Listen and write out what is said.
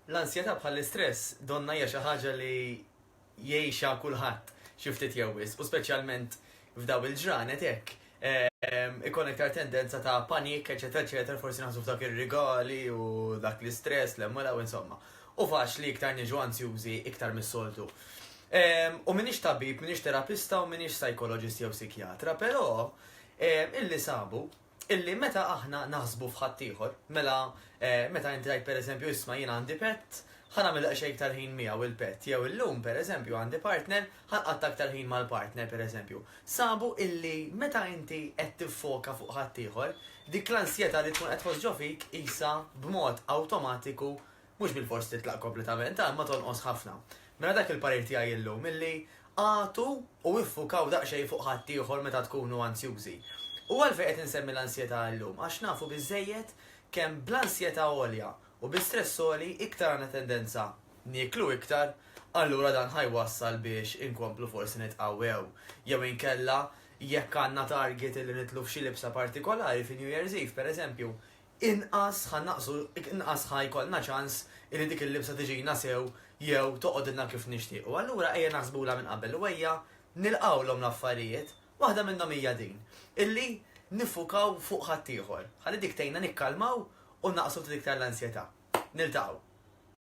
L-ansjetà bħall-istress, donnha hija xi ħaġa li jgħixha kulħadd xi ftit jew wisq, u speċjalment f'daw il-ġranet hekk, ikun iktar tendenza ta' panik, eċċetera, eċċetera, forsi naħsbu f'dak ir-rigali u dak l-istress li hemm u l-hawn, insomma. Hu faċli iktar niġu ansjużi iktar mis-soltu. U m'iniex tabib, m'iniex terapista u m'iniex sajkoloġist jew sikjatra, però illi sabu Illi meta aħna naħsbu f'ħaddieħor, mela meta inti tgħid pereżempju isma' jiena għandi pett, ħa nagħmel daqsxejn iktar ħin miegħu l-pett jew illum pereżempju għandi partner, ħa nqatta' iktar ħin mal-partner pereżempju. Sabu illi meta inti qed tiffoka fuq ħaddieħor, dik l-ansjetà li tkun qed tħoss ġo fik qisha b'mod awtomatiku Mhux bilfors titlaq kompletament, imma tonqos ħafna. Mela dak il-parir tiegħi illum illi agħtu u iffukaw daqsxejn fuq ħaddieħor meta tkunu ansjużi. U għalfejn qed insemmi l-ansjetà illum? Għax nafu biżżejjed kemm bl-ansjetà għolja u bi stress għoli iktar għandna tendenza nieklu iktar, allura dan ħa jwassal biex inkomplu forsi nitqawwew. Jew inkella jekk għandna target illi nidħlu f'xi libsa partikolari fi New Year's Eve, pereżempju, inqas ħa naqsu, inqas ħa jkollna ċans illi dik il-libsa tiġina sew jew toqgħodilna kif nixtiequ. Allura ejja naħsbulha minn qabel u ejja nilqgħulhom l-affarijiet. Waħda minnhom hija din, illi niffukaw fuq ħaddieħor, ħalli dik tgħinna nikkalmaw u naqsu ftit iktar l-ansjetà. Niltaqgħu.